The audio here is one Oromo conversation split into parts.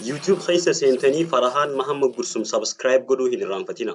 YouTube keessa seentanii Farahaan Mahammad Gursum subscribe godhuu hin irraanfatina.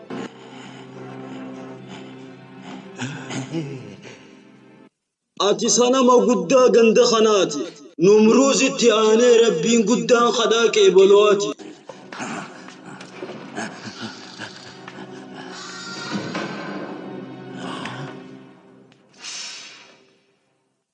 Ati sanama guddaa ganda kanaati. Numruuzitti aanee rabbiin guddaan kadhaa qeebaluwaati.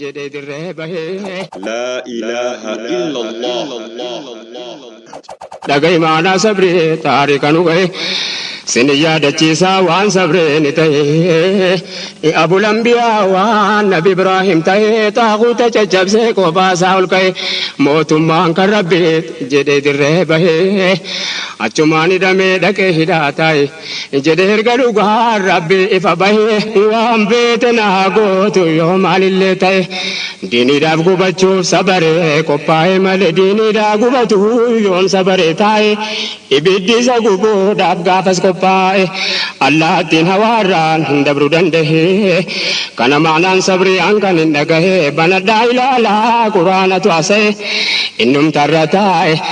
jedhee dirree bahee. Laa ilaaha illallah. Dhaga'i maalaa sabri taarika nu gahe sin yaadachiisa waan sabreen ta'e abul anbiyaa waan nabi ibraahim ta'e xaaquuta caccabsee kophaa isaa ol ka'e mootummaan kan rabbi jedhee dirree bahe achumaan hidhamee dhaqee hidhaa taa'e. Jedhe erga dhugaan rabbi ifa bahe waan beete naa gootu yoo maalillee ta'e diiniidhaaf gubachuuf sabare qophaa'e malee diiniidhaa gubatu yoom sabare taa'e ibiddi isa gubuudhaaf gaafas qophaa'e allaattiin hawaarraan hin dabru dandahe kana maanaan sabrii an kan hin dhagahe banadhaa ilaalaa quraanatu asa'e innumtarra taa'e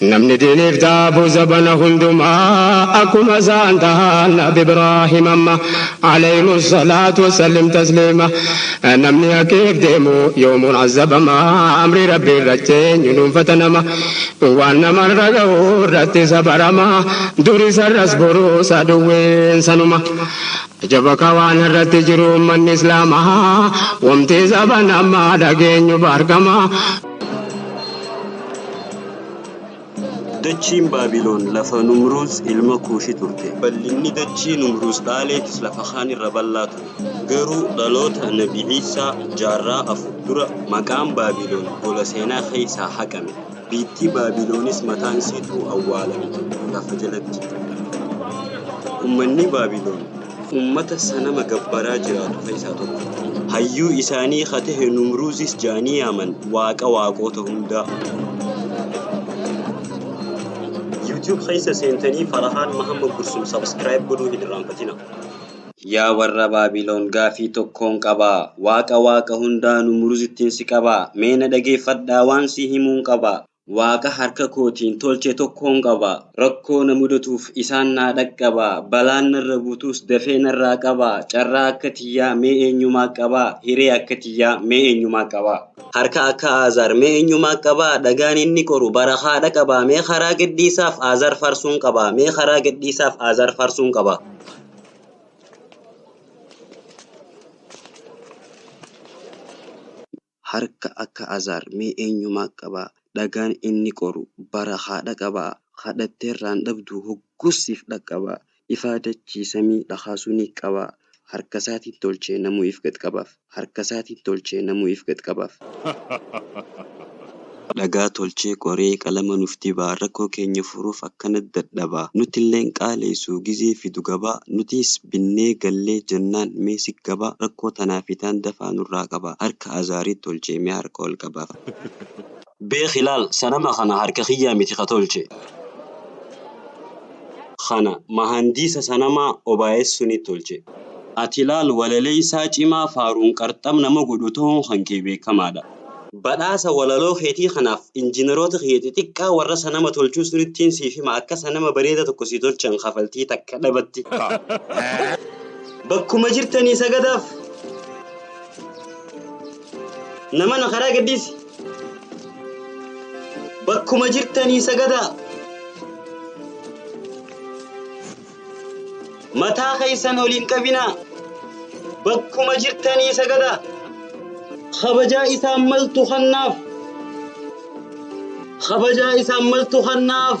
Namni diiniif daabu zabana hundumaa akkuma isaan tahan Nabi Ibraahim amma aleyhimu salaatu wassallim tasliima Namni haqiif deemu yoomuu azabama amrii Rabbii irratti eenyu dhuunfata nama Waan nama irra gahu irratti isa barama dur isa irras borus aduwwiin sanuma Ajaba ka waan har'atti jiru ummanni islaamaa Wamti zabana ammaa dhageenyu baargama Dachiin Baabiloon lafa Numruuz ilma Kuushi turte. Bal'inni dachii Numruuz dhaaleetis lafa kaan irra bal'aa ture. Garuu dhaloota Nabi Iisaa jaarraa afur dura maqaan Baabiloon gola seenaa keessaa haqame. Biittii Baabiloonis mataan isiituu awwaalamte lafa jalatti. Ummanni Baabiloon Ummata sanama gabbaraa jiraatu keessaa tokko. Hayyuu isaanii ka tahe Numruuzis ja'anii yaaman, waaqa waaqoota hundaa. Youtube keessa seentanii Farahaan Mahammad Gursum subscribe godhuu hin irraanfatinaa. Yaa warra Baabiloon gaafii tokkoon qaba. Waaqa waaqa hundaa Numruzittin si qaba. Mee na dhageeffadhaa waan si himuun qaba. Waaqa harka kootiin tolche tokkon qaba. Rakkoo na mudatuuf isaan naa dhaqqaba. Balaan narra buutus dafee narraa qaba. Carraa akka tiyyaa mee eenyumaa qaba? Hiree akka tiyyaa mee eenyumaa qaba? Harka akka Aazaar mee eenyumaa qaba? Dhagaan inni qoru barakaa dhaqaba. Mee karaa gadhiisaaf Aazaar faarsuun qaba. Mee karaa gadhiisaaf Aazaar faarsuun qaba. harka akka Azaar mee eenyumaa qabaa dhagaan inni qoru bara haa dhaqabaa kadhatteerraan dhabduu hogguus siif dhaqqabaa ifaa dachii samii dhakaasuu ni qabaa harkasaatiin tolchee namuu if gad qabaaf harkasaatiin tolchee namuu if gad qabaaf. Dhagaa tolchee qoree qalama nuf dibaa Rakkoo keenya furuuf akkanat dadhabaa Nutilleen qaaleysuu gizee fidu gabaa Nutiis binnee gallee jennaan mee sik gabaa Rakkoo tanaa fi taan dafaa nurraa qabaa Harka Azaarii tolchee mee harka ol qabaa. Beekhi laal sanama kana harka kiyyaa miti ka tolche Kana mahandiisa sanamaa obaayes sunit tolche. Ati laal walaleysaa cimaa faaruun qarxam nama godhu tahuun kan kee beekamaadha. Badhaasa walaloo keetii kanaaf injiinaroota kiyya xixiqqaa warra sanama tolchuu sirittiin siif hima akka sanama bareeda tokko sii tolchan kafaltii takka dhabatti bakkuma jirtanii sagadaaf namana karaa gadhiisi bakkuma jirtanii sagadaa Mataa keessan ol hin qabinaa. Bakkuma jirtanii sagadaa. Kabajaa isaan maltu kannaaf. Kabajaa isaan maltu kannaaf.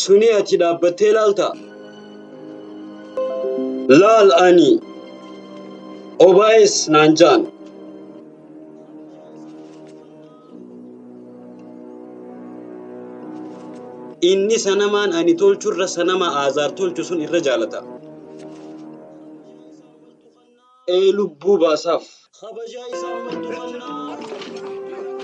Suni achi dhaabbattee laalta. Laal ani obaayes naan jaan. Inni sanamaan ani tolchu irra sanama Aazaar tolchu sun irra jaalata. ee lubbuu baasaaf. Kabajaa isaa mardu qabnaa.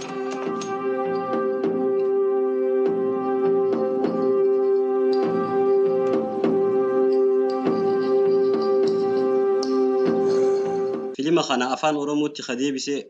Filima kana afaan oromootti ka deebise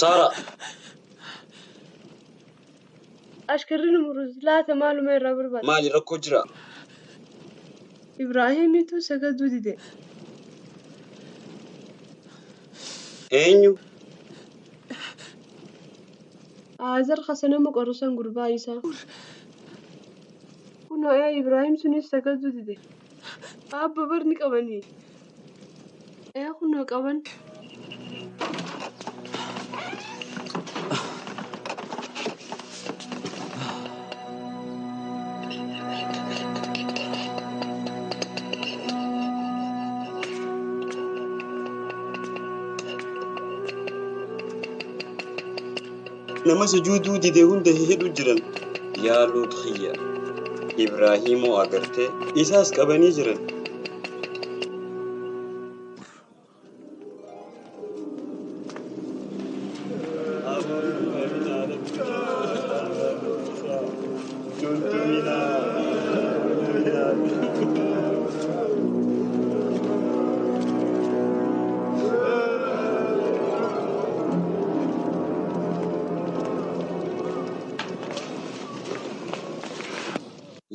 Saara! Ashkarri nu murus laata maaluma irraa barbaada? Maali rakkoo jira? Ibraahimitu sagaduu dide. Eenyu? Aazer ka sanama qoru san gurbaa isaa. Kunoo ee Ibraahim sunis sagaduu dide. Aabbo bar ni qabani. Ee kunoo qaban. nama sujuuduu dide hunda hidhu jiran yaa luut kiyya ibraahimoo agartee isaas qabanii jiran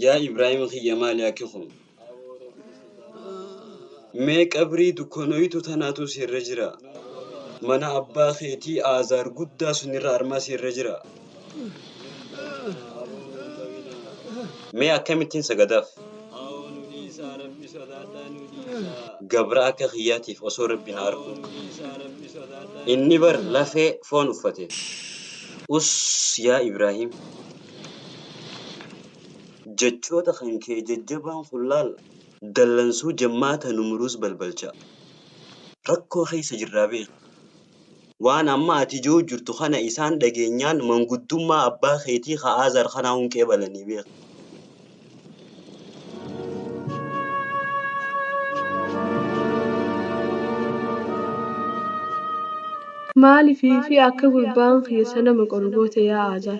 Yaa Ibraahima kiyya maali akki kun? Mee qabrii dukkanoytu tanaatu si irra jira. Mana abbaa keetii aazaar guddaa sunirra armaa si irra jira. Mee akkamittiin sagadaaf? Gabra akka kiyyaatiif osoo rabbi na arku. Inni bar lafee foon uffate. Us yaa Ibraahim. Jechoota kan kee jajjabaan kun laal dallansuu jammaata nu muruus balbalchaa. Rakkoo keessa jirraa beeki. Waan amma ati je'uu jirtu kana isaan dhageenyaan manguddummaa abbaa keetii ka Aazar kanaa hun qeebalanii beeki. Maaliif fi akka gurbaan kiyya isa nama qoru goote yaa Aazar?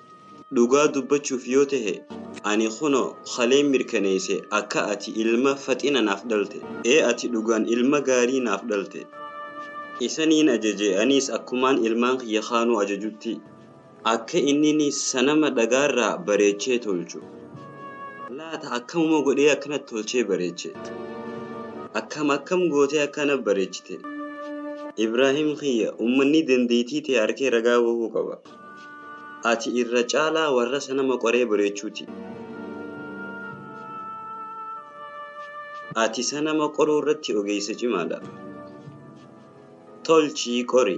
Dhugaa dubbachuuf yoo tahe ani kunoo kaleen mirkaneeyse akka ati ilma faxina naaf dhalte. Ee ati dhugaan ilma gaarii naaf dhalte. Isaniin ajaje aniis akkumaan ilmaan kiyya kaanuu ajajutti akka innini sanama dhagaarraa bareechee tolchu. Laata akkamuma godhee akkana tolchee bareeche? Akkam akkam gootee akkana bareechite? Ibraahim kiyya ummanni dandeeytii tee arkee ragaa bahuu qaba. Ati irra caalaa warra isa nama qoree bareechuu ti. Ati isa nama qoruu irratti ogeessa cimaa dha. Tolchii qori.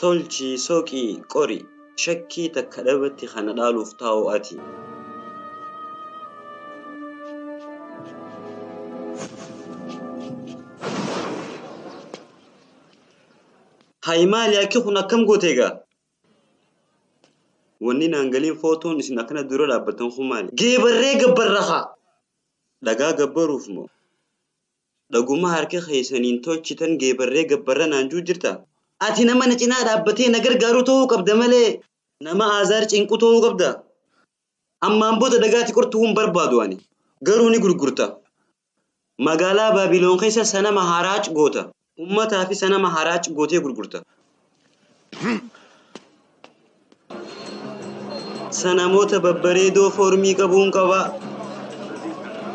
Tolchii soqii qori. Shakkii takka dhabatti kana dhaaluuf taa'u ati. Hayi maali akki kun akkam goote egaa? Wanni naan galiin footoon isin akkana dura dhaabbattan kun maali? Geebarree gabbarra haa! Dhagaa gabbaruuf moo? Dhaguma harka keessaniin tolchitan geebarree gabbarra naan juu jirta? Ati nama na cinaa dhaabbatee na gargaaru ta'uu qabda malee nama Aazaar cinqu ta'uu qabda. Ammaan booda dagaati qortuu hin barbaadu ani. Garuu ni gurgurta. Magaalaa Baabiloon keessa sanama haraac goota. Ummataa fi sanama haraac gootee gurgurta. Sanamoota babbareedoo foormii qabuun qabaa.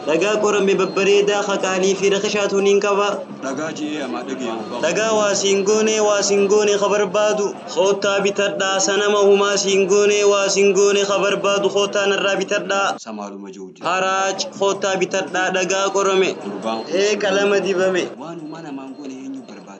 Dhagaa qorame babbareedaa ka qaalii fi rakashaatu niin qaba. Dhagaa ji'ee amaa dhagee'uu bahu. Dhagaa waa siin goonee waa siin goone ka barbaadu. Koottaa bitadhaa sanama humaa siin goonee waa siin goone ka barbaadu koottaa narraa bitadhaa. Samaaluma ji'uu jira. Haraac koottaa bitadhaa dhagaa qorame. Gurbaan kun. Ee qalama dibame. Waan humaa namaan goone eenyuu barbaada.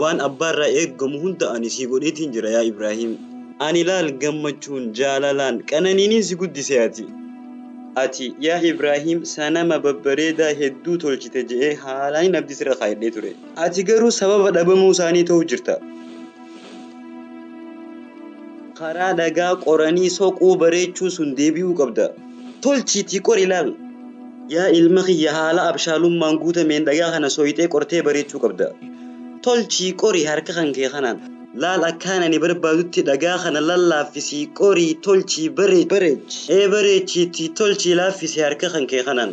Waan abbaa irraa eegamu hunda ani sii godheetiin jira yaa Ibraahiim. Ani laal gammachuun, jaalalaan, qananiiniin si guddise ati. Ati yaa Ibraahiim sanama babbareedaa hedduu tolchite je'ee haalaan hin abdii sirra kaayadhee ture. Ati garuu sababa dhabamuu isaanii ta'uu jirta. Karaa dhagaa qoranii soquu bareechuu sun deebi'uu qabda. Tolchiitii qor ilaal. Yaa ilma kiyya haala abshaalummaan guutameen dhagaa kana soyxee qortee bareechuu qabda. Tolchii qori harka kan kee kanaan. Laal akkaan ani barbaadutti dhagaa kana lallaaffisii qorii tolchii bareechi. Bareechi. Ee bareechiitii tolchii laaffisi harka kan kee kanaan.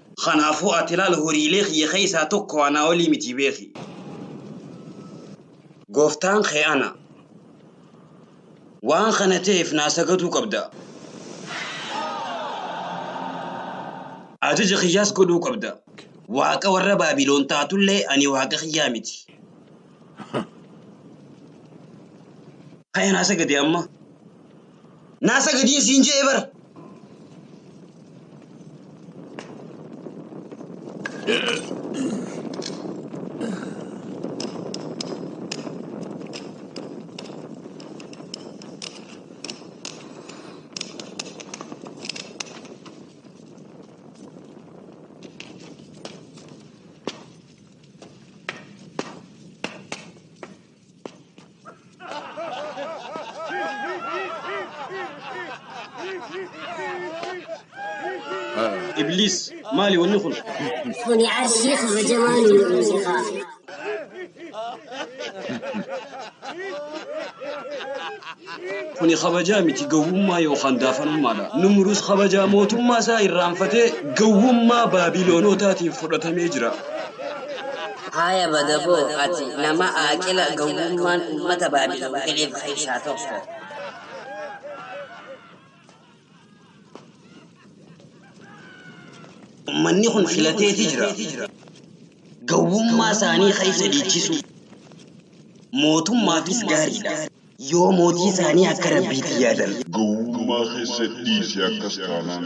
Kanaafuu ati ilaal horiilee kiyya keessaa tokko anaa olii miti beeki. Gooftaan kee ana. Waan kana ta'eef naa sagaduu qabda. Ajaja kiyyaas godhuu qabda. Waaqa warra Baabilon taatullee ani Waaqa kiyyaa miti. Ka'ee naa sagadi amma. Naa sagadiin siin je'e bar. Ibliis maali wanni kun? Kuni arshii kabajamaa nu nu'uusi kaa. Kuni kabajaa miti, gowwummaa yookaan daafanummaadha. Numruz kabajaa mootummaa isaa irraanfatee gowwummaa Baabilonootaatiin fudhatamee jira. Haaya badaboo, ati nama aaqila, gowwummaan ummata Baabilon fedheef keessaa tokko. Ummanni kun filateeti jira. Gowwummaa isaanii keessa dhiichisuu mootummaafis gaariidha. Yoo mootii isaanii akka Rabbiitii yaadan. Gowwummaa keessa dhiisi akkas taanaan.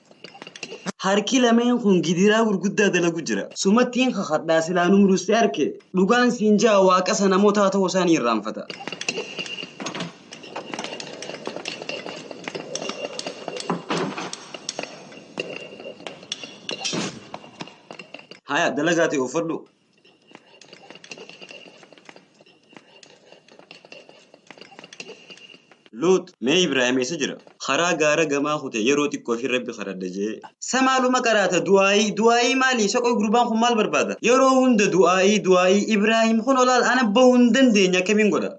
Harki lameen kun gidiraa gurguddaa dalagu jira. Sumattiin kakadhaa silaa nu muruste arke. Dhugaan siin ja'a waaqasa namotaa ta'uu isaa ni irraanfata. Haya dalagaa ta'e uffadhu. Luux, Mee Ibraahim eessa jira? Karaa gaara gamaa kute yeroo xiqqoofi Rabbi kadhadha je'e. Sa maaluma qaraata du'aa'ii du'aa'ii maali? Sa qoy gurbaan kun maal barbaada? Yeroo hunda du'aa'ii du'aa'ii Ibraahim kunoo laal ana bahu hin dandeenye akkamiin godha?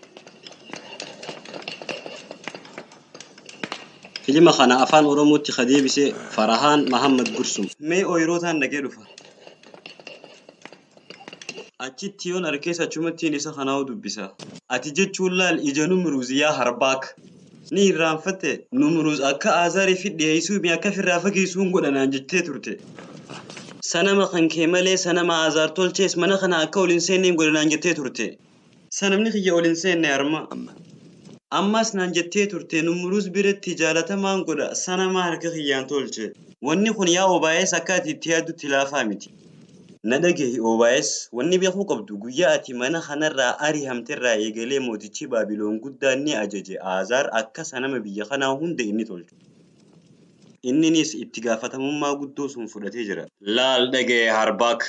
Filima kana Afaan Oromootti ka deebise Farahaan Mahammad Gursum. Mee ooyiruu taan dhaqee dhufa. Achitti yoon arkees achumattiin isa kanaa'u dubbisa. Ati jechuun laal ija Numruuz yaa Harbaak! Ni irraanfatte? Numruuz akka Aazaariifi dhiheessuu mi akka firraa fageessuun godha naan jettee turte. Sanama kan kee malee sanama Aazaar tolchees mana kana akka ol hin seenneen godha naan jettee turte. Sanamni kiyya ol hin seenne arma. Ammaas naan jettee turte Numruuz biratti jaalatamaan godha sanama harka kiyyaan tolche. Wanni kun yaa OBS akka ati itti yaaddutti laafaa miti. Na dhagahi OBS, wanni beekuu qabdu guyyaa ati mana kanarraa arihamterraa eegalee mootichi Baabilon guddaan ni ajaje Aazaar akka sanama biyya kanaa hunda inni tolchu. Inninis itti gaafatamummaa guddoo sun fudhatee jira. Laal, dhagahi Harbaak,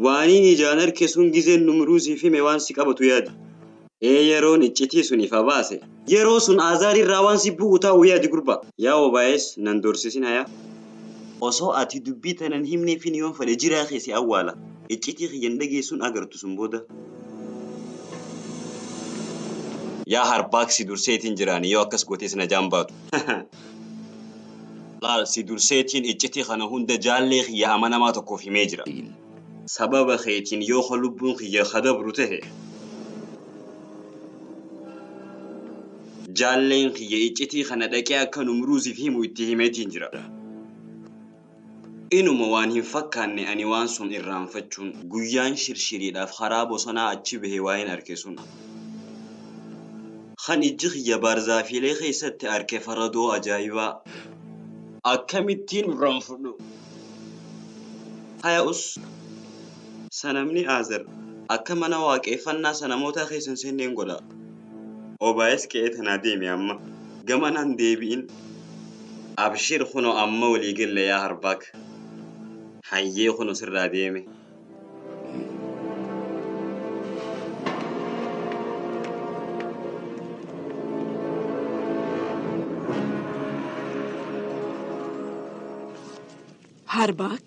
Waaniin ijaan arke sun gizeen Numruuz siif hime waan si qabatu yaadi. Ee yeroon iccitii sun ifa baase. Yeroo sun Aazaar irraa waan si bu'u taa'u yaadi gurbaa. Yaa Obaayes nan dorsisin hayaa. Osoo ati dubbii tana hin himneefin yoon fedhe jiraa kee si awwaala. iccitii kiyya hin dhageessu hin agartu sun booda. Yaa harbaak si durseetiin jira ani yoo akkas gootees najaan baatu. Laal si durseetiin iccitii kana hunda jaallee kiyya amanamaa tokkoof himee jira. Sababa keetiin yoo ka lubbuun kiyya ka dabru tahe jaalleen kiyya iccitii kana dhaqee akka numruuziif himu itti himeetiin jira. Inuma waan hin fakkaanne ani waan sun irraanfachuun guyyaan shirshiriidhaaf karaa bosonaa achi bahe waa'een arke sun. Kan ijji kiyya baarzaafiilee keessatti arke faradoo ajaa'ibaa akkamittiin irraanfudhu! Taya'us, sanamni Aazer akka mana waaqeeffannaa sanamootaa keessa hin seenne hin godha. Obaayes qe'ee tanaa deemi amma! Gamanaa hin deebi'in! Abshir kuno amma walii galla yaa harbaak hayyee kuno sirraa deeme. Harbaak.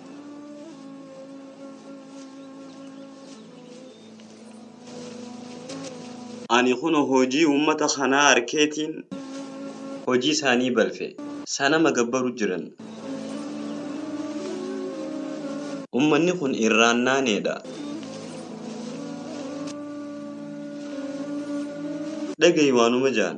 Ani kuno hojii uummata kanaa arkeetiin hojii isaanii balfe. Sanama gabbaru jiran. Ummanni kun irraan naaneedha. Dhagayi waanuma jaan.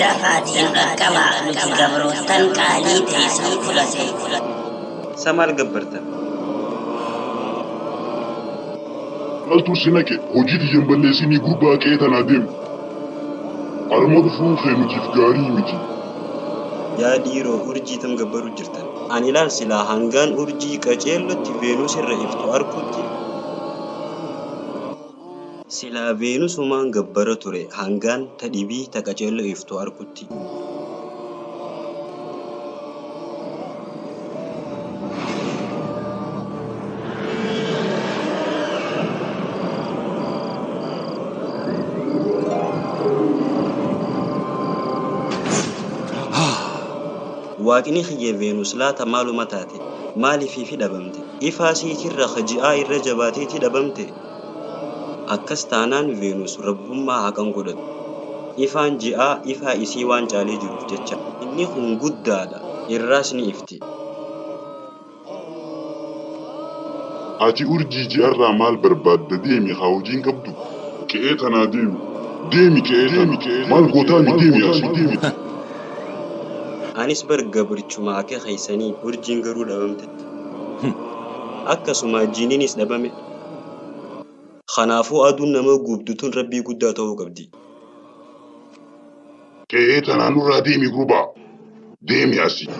Dafaatii dhaqqabaa nuti gabroottan qaalii teeysan fudhate. Sa maal gabbartan? Maltu si naqe hojii tiyya hin balleessinii gurbaa qe'ee tanaa deemu. Armoo dhufuun kee nutiif gaarii miti. Yaa dhiiroo urjii tam gabbaruu jirtan? Ani laal silaa hangaan urjii qaceellotti Veenus irra iftu arkutti. Silaa Veenusumaan gabbara ture hangaan ta dhibii ta qaceello iftu arkutti. Waaqni kiyya Veenus laata maaluma taate? Maaliifiifi dhabamte? Ifaa siitirra ka ji'aa irra jabaateeti dhabamte? Akkas taanaan Veenus rabbummaa haa kan godhattu. Ifaan ji'aa ifaa isii waan caalee jiruuf jecha. Inni kun guddaadha, irraas ni ifti. Ati urjii ji'arraa maal barbaadda deemi kaa hojii hin qabdu? Qe'ee tanaa deemi. Deemi qe'ee tana. Maal gootaami deemi asii. Anis bar gabrichuma ake keessanii urjiin garuu dhabamte. Akkasumaa jiininis dhabame. Kanaafuu aduun nama gubdu tun Rabbii guddaa ta'uu qabdi. Qe'ee tanaa nurraa deemi gurbaa! Deemi asii!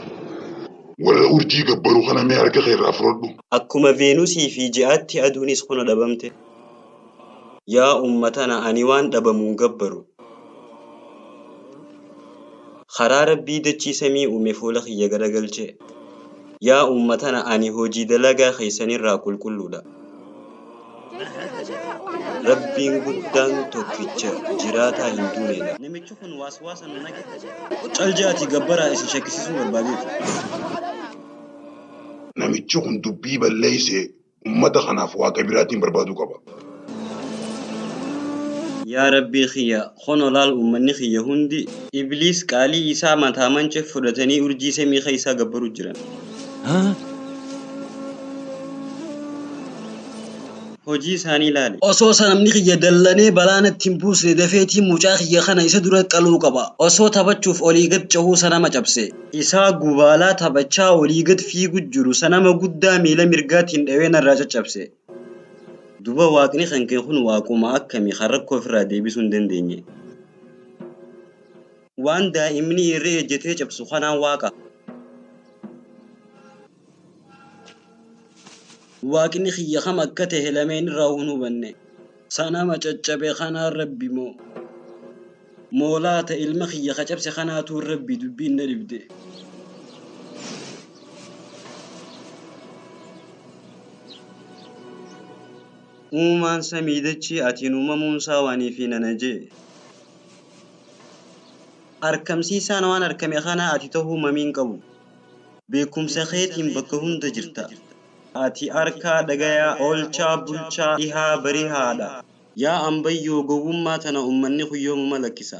Warra urjii gabbaru kana mee harka kee irraa fudhadhu! Akkuma Veenusii fi ji'aatti aduunis kuna dhabamte. Yaa umma tana ani waan dhabamu hin gabbaru. Karaa Rabbii dachii samii uume fuula kiyya garagalchee. Yaa uummatana ani hojii dalagaa keessanirraa qulqulluudha. Rabbiin guddaan tokkicha jiraataa hin duuneedha. Namichi kun waaswaasa nu naqe. Cal ja'atii gabbaraa isin shakkisiisuu barbaadeeti. Namichi kun dubbii balleessee ummata kanaaf waa gabiraatiin barbaaduu qaba. Yaa Rabbii kiyya! Kunoo laal ummanni kiyya hundi Ibliis qaalii isaa mataa mance fudhatanii urjii samii keessaa gabbaruu jiran. Hojii isaanii laali. Osoo sanamni kiyya dallanee balaa natti hin buusne dafeetiin mucaa kiyya kana isa dura qaluu qaba. Osoo taphachuuf olii gad cehuu sanama cabse. Isaa gubaalaa taphachaa olii gad fiigu jiru sanama guddaa miila mirgaatiin dhawee narraa caccabse. Duba waaqni kan kee kun waaquma akkami kan rakkoo ofirraa deebisuu hin dandeenye? Waan daa'imni irree ejjetee cabsu kanaan waaqa. Waaqni kiyya kam akka tahe lameen irraa hin hubanne. Sanama caccabe kanaan Rabbi moo? Moo laata ilma kiyya ka cabse kanaatu Rabbi? Dubbiin na dhibde. Uumaan samii dachii atiin uumamuun isaa waan ifii na najee. Arkamsiisaan waan arkame kanaa ati tahuu mamii hin qabu. Beekumsa keetiin bakka hunda jirta. Ati arkaa, dhagayaa, oolchaa, bulchaa, dhihaa, barihaa dha. Yaa ambayyoo gowwummaa tana ummanni kun yoomuma lakkisa?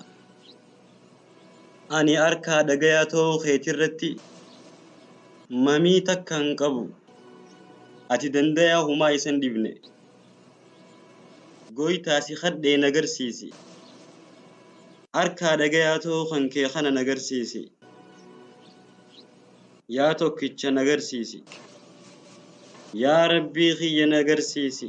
Ani arkaa, dhagayaa ta'uu keetirratti mamii takka hin qabu. Ati dandayaa humaa isa hin dhibne. Goytaa si kadhee na garsiisi. Harkaa dhagayaa too kan kee kana na garsiisi. Yaa tokkicha na garsiisi. Yaa Rabbii kiyya na garsiisi.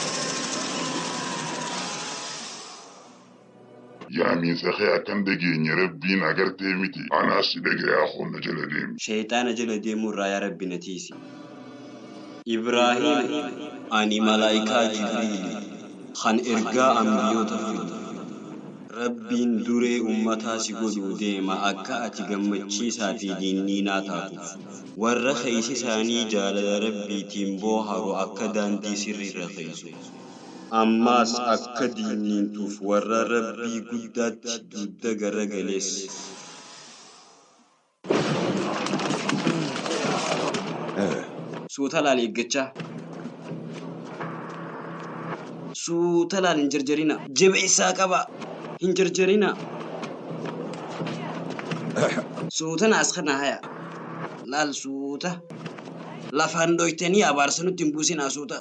Yaamiinsa kee akka hin dhageenye Rabbiin agartee miti? Anaas si dhagayaa koo na jala deemi. Sheyxaana jala deemuu irraa yaa Rabbi na tiysi. Ibraahiim, Ani malaaykaa Jibriili, kan ergaa anbiyoota fidu. Rabbiin duree ummataa si godhuu deema akka ati gammachiisaa fi diinniinaa taatuuf. Warra keeysi isaanii jaalala Rabbiitiin booharu akka daandii sirriirra keeysu. Ammaas akka diiniintuuf warra Rabbii guddaatti dudda garagalees. Suuta laal eeggachaa. Suuta laal hin jarjarinaa. Jabeessaa qabaa. Hin jarjarinaa. Suuta naas kana hayaa. Laal suuta. Lafaan dhoytanii abaarsa nutti hin buusinaa suuta.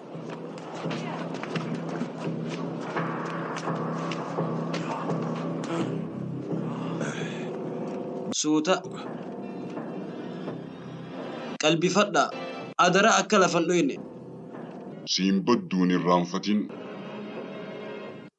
Suuta. Qalbifadhaa. Adaraa akka lafan dhoyne. Siin baddu hin irraanfatin.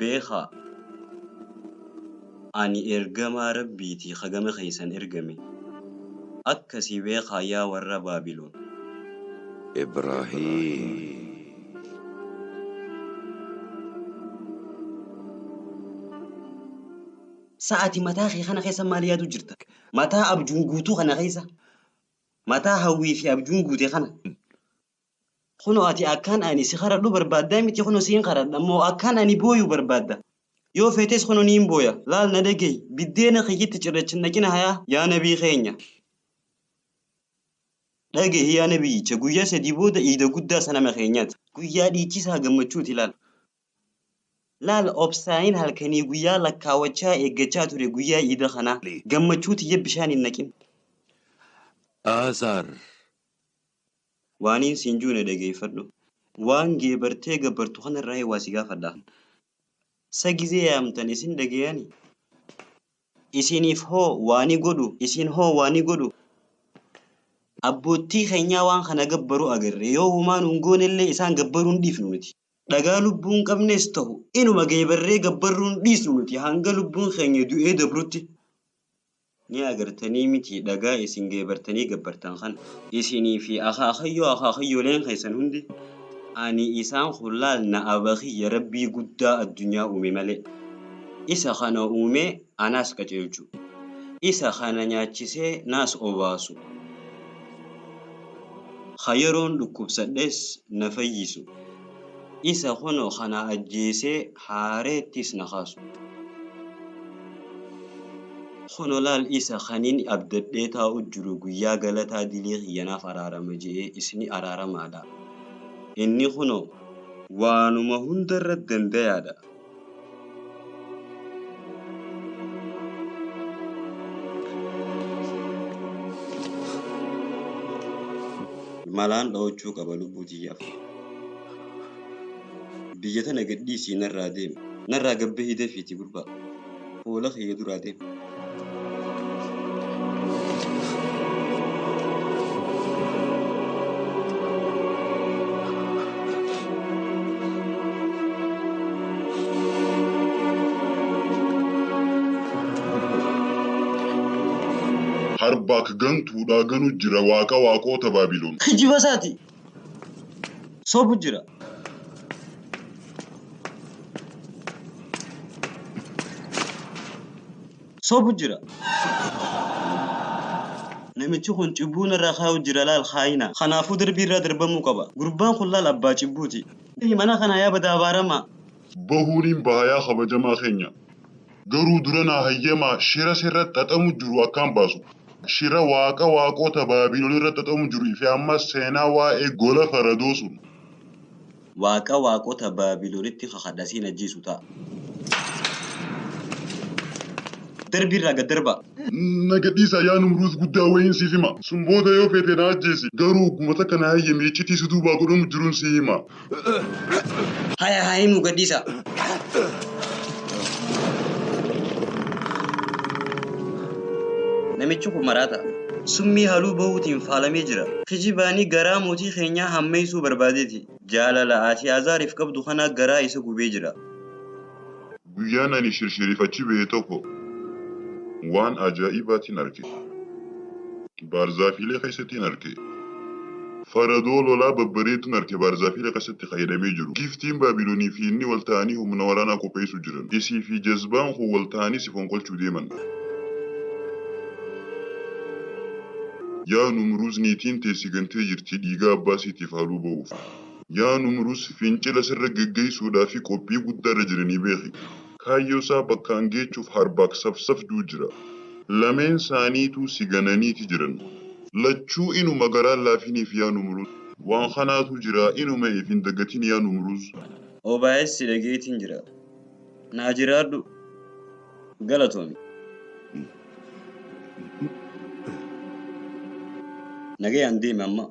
Beekhaa! Ani ergamaa Rabbii ti ka gama keessan ergame. Akkasi beekhaa yaa worra Baabilon! Ibraahiim! Sa ati mataa kee kana keessa maal yaaduu jirta? Mataa abjuun guutuu kana keessa? Mataa hawwii fi abjuun guute kana? Kunoo ati akkaan ani si karadhu barbaaddaa miti kunoo siin karadha moo akkaan ani booyu barbaadda? Yoo feetes kunoo niin booya laal na dhagahi biddeena kiyyitti cirrachi naqina hayaa yaa nabii keenya. Dhagahi yaa nabiyyicha! Guyyaa sadii booda iida guddaa sanama keenyati. Guyyaa dhiichisaa gammachuuti laal. Laal obsaaiin halkanii guyyaa lakkaawachaa eeggachaa ture guyyaa iida kanaa. Gammachuu tiyya bishaan hin naqin. Aasaar. Waaniin siin juu na dhageeyfadhu. Waan geebartee gabbartu kanarraahi waa si gaafadha. Sa gizee yaamtan isin dhagayaani? Isiiniif hoo waa ni godhu? Isiin hoo waa ni godhu? Abboottii keenyaa waan kana gabbaru agarre. Yoo homaa nuun goonellee isaan gabbaruu hin dhiifnu nuti. Dhagaa lubbuu hin qabnes tahu inuma geebarree gabbarruu hin dhiisnu nuti hanga lubbuun keenya du'ee dabrutti. Ni agartanii mitii dhagaa isin geebartanii gabbartan kana? Isinii fi akaakayyoo akaakayyooleen keessan hundi ani isaan kun laal na aba kiyya Rabbii guddaa addunyaa uume malee. Isa ka na uume anaas qaceelchu. Isa ka na nyaachisee naas obaasu. Ka yeroon dhukkubsadhes na fayyisu. Isa kunoo ka na ajjeesee haareettis na kaasu. Kunoo laal isa kanin abdadhee taa'u jiru guyyaa galataa dilii kiyya naaf araarama je'ee isni araaramaadha. Inni kunoo. waanuma hundarra dandayaadha. malaan dhoochuu qaba lubbuu tiyyaaf. Biyya tana gadhiisii narraa deemi. Narraa gabbahii dafiiti gurbaa. fuula kiyya duraa deemi. Harbaak gantuudhaa ganu jira waaqa waaqoota Baabilon. Kijiba isaati. sobu jira. sobu jira. Namichi kun cubbuu narraa kaa'u jira laal kaayina. Kanaafuu darbii irraa darbamuu qaba. Gurbaan kun laal abbaa cubbuuti. Mana kana yaa bada abaaramaa. bahuu niin baha yaa kabajamaa keenya garuu dura naa hayyamaa shira sirra xaxamu jiru akkaan baasu shira waaqa waaqoota baabiilon irra xaxamu jiru fi ammas seenaa waa'ee gola faradoo sun. waaqa waaqoota baabiilonitti kakadha siin ajjeesu ta'a. darbii irraa gad darbaa. na gad dhiisaa yaa numruuz guddaa wayiin siif hima sun booda yoo feete na ajjeesi garuu ogguma takka naa hayyami iccitii si duubaa godhamu jirun sii hima. Haya haa himu gadhiisa. Namichi kun maraata. Summii haluu bahuutiin faalamee jira. Kijibaanii garaa mootii keenyaa hammeessuu barbaadeeti. Jaalala Atii'azaariif qabdu kanaa garaa isa gubee jira. Guyyaan ani shirshiriif achi bahe tokko waan ajaa'ibaatiin arge. Baarzaafiilee keessattiin arge. Faradoo lolaa babbareedduun arge baarzaafiilee keessatti ka hidhamee jiru. Giiftiin Baabilonii fi inni wal ta'anii humna waraanaa qopheessuu jiran. Isii fi jazbaan koo wal ta'anii si fonqolchuu deeman. Yaa Numruuz niitiin tee si gantee jirti dhiigaa abbaa isiitiif haaluu ba'uuf. Yaa Numrus, fincila sirra geggeessuudhaafi qophii guddaarra jira ni beeki. Kaayyoo isaa bakkaan geechuuf harbaak safsafduu jira. Lameen saaniituu si gananiiti jiran. Lachuu inuma garaan laafiniif yaa Numrus. Waan kanaatu jira, inuma if hin dagatin yaa Numruz. OBS si dhageetiin jira. Naa jiraadhu. Galatoomi. Nagayaan deemi amma.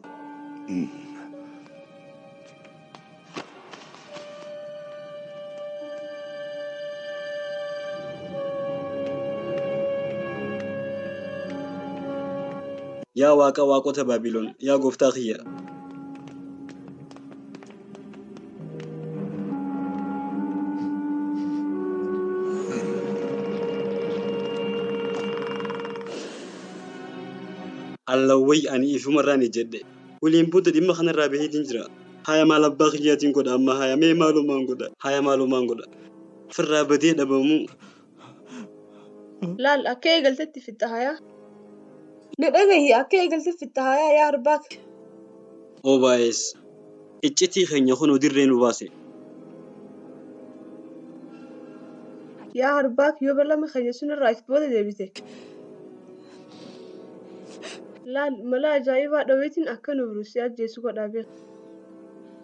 Yaa Waaqa waaqota Baabilon, yaa gooftaa kiyya! Allawway ani ifumarraan ejjedhe. Waliin booda dhimma kanarraa baheetiin jira. Haya maal abbaa kiyyaatiin godha amma haya mee maalumaan godha haya maalumaan godha. Firraa badee dhabamuu Laal akka eegaltetti fixxa hayaa. Na dhagahi akka eegaltetti fixxa hayaa yaa arbaa. OBS iccitii keenya kunoo dirree nu baase. Yaa arbaa yoo balama keenya sunirraa if booda deebite. Laal mala ajaa'ibaa dhaweetiin akka nu biru si ajjeesu godhaa beeka.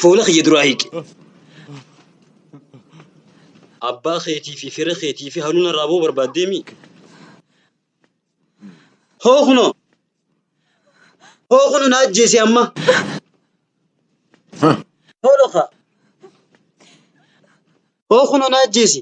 Fuula kiyya duraa hiiki. Abbaa keetii fi fira keetii fi haluun irraa ba'uu barbaaddee mii? Hoo kunoo! Hoo kunu na ajjeese amma! Hoo dhokaa! Hoo kunoo na ajjeesi.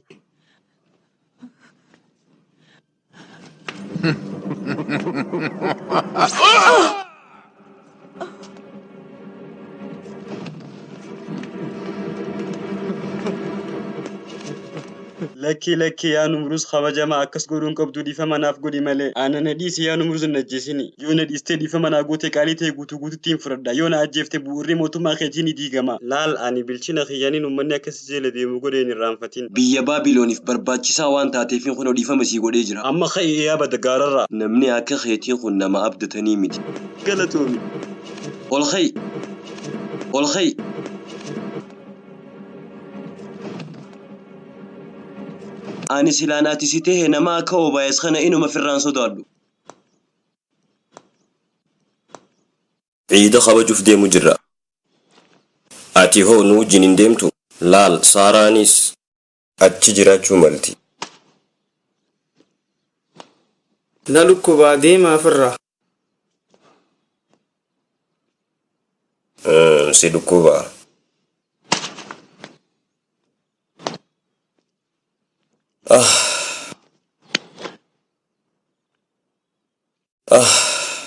Lakkii lakkii yaa numruus kabajamaa akkas godhuun qabdu dhiifama naaf godhi malee. Ana na dhiisi yaa numruus hin ajjeesini. Yoo na dhiistee dhiifama naa gootee qaalii ta'e guutuu guututti hin fudhadha. Yoo na ajjeefte bu'urri mootummaa keetii ni diigama. Laal ani bilchina kiyyaanin ummanni akka Zile deemu godhe hin irraanfatin. Biyya Baabiloniif barbaachisaa waan taateefin kunoo dhiifama sii godhee jira. Amma ka'i ee abada gaararraa. Namni akka keetii kun nama abdatanii miti. Galatoomi. Ol ka'i! Ol ka'i! Ani silaan ati si tahe nama akka Obaayas kana inuma firraan sodaadhu. Ciida kabajuf deemu jirra. Ati hoo nu wajjin hin deemtu? Laal, Saaraanis. achi jiraachuu malti. Na dhukkubaa deemaa firraa. Umm, si dhukkubaa. Ah. Ah.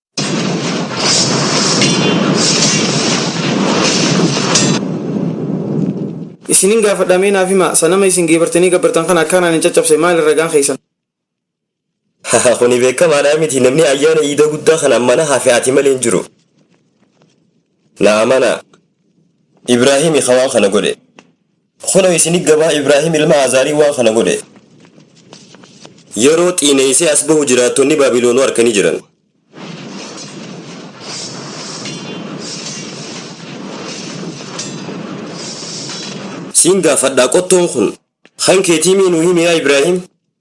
Isinin gaafadha mee naaf himaa sanama isin geebartanii gabbartan kana akkaan ani caccabse maali ragaan keessan. Kuni beekamaadhaa miti namni ayyaana iida guddaa kana mana hafe ati malee hin jiru. Na amanaa. Ibraahimi ka waan kana godhe. Kunoo isini gabaa Ibraahim ilma Aazaarii waan kana godhe. Yeroo xiineysee as bahu jiraattonni Baabiloonuu arkanii jiran. Siin gaafadhaa qottoon kun kan keetii mii nuu himi yaa Ibraahim?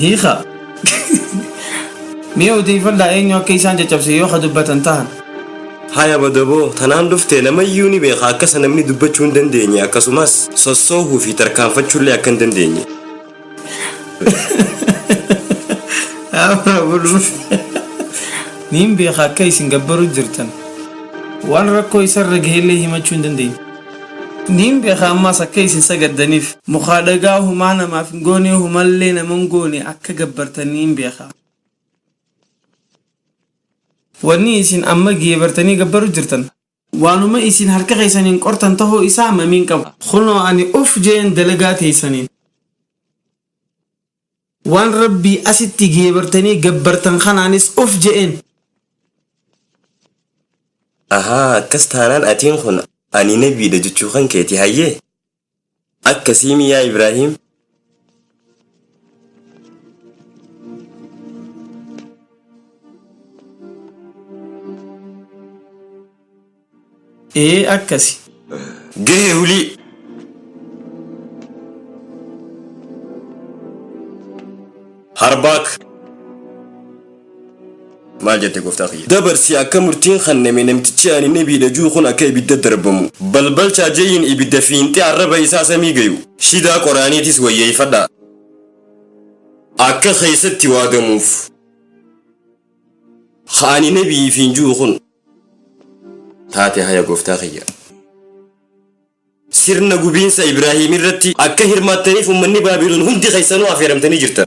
Hiika. Mee odeeffadhaa eenyu akka isaan caccabse yoo ka dubbatan tahan. Haya Badaboo, tanaan dhufte namayyuu ni beeka akkasa namni dubbachuu hin dandeenye akkasumas sossoohuu fi tarkaanfachuullee akka hin dandeenye. Abra bulus. Niin beeka akka isin gabbaru jirtan. Waan rakkoo isarra gahellee himachuu hin dandeenye. Niin beeka ammaas akka isin sagaddaniif. Mukaa dhagaa humaa namaaf hin goonee humallee nama hin goone akka gabbartan niin beeka. Wanni isin amma geebartanii gabbaru jirtan. Waanuma isin harka keessaniin qortan tahuu isaa mamii hin qabu. Kunoo ani uf je'een dalagaa teeysaniin. Waan Rabbii asitti geebartanii gabbartan kanaanis uf je'een. Ahaa akkas taanaan atiin kun ani nabiidha jechuu kan keeti hayyee? Akkasiimi yaa Ibraahiim? Ee akkasi. Gahee hulii. Harbaak. Maal jette gooftaa kiyya. Dabarsi akka murtiin kanname namtichi ani nabiidha juu kun akka ibidda darbamu. Balbalchaa jeyiin ibidda fiinxee arraba isaa samii gayu. Shidaa qoraaniitis wayyeeyfadhaa. Akka keessatti waadamuuf. Ka ani nabi'iifiin juu kun. taate haya goftaa kiyya. Sirna gubiinsa Ibraahiim irratti akka hirmaattaniif ummanni Baabiloon hundi keessanuu afeeramtanii jirtan.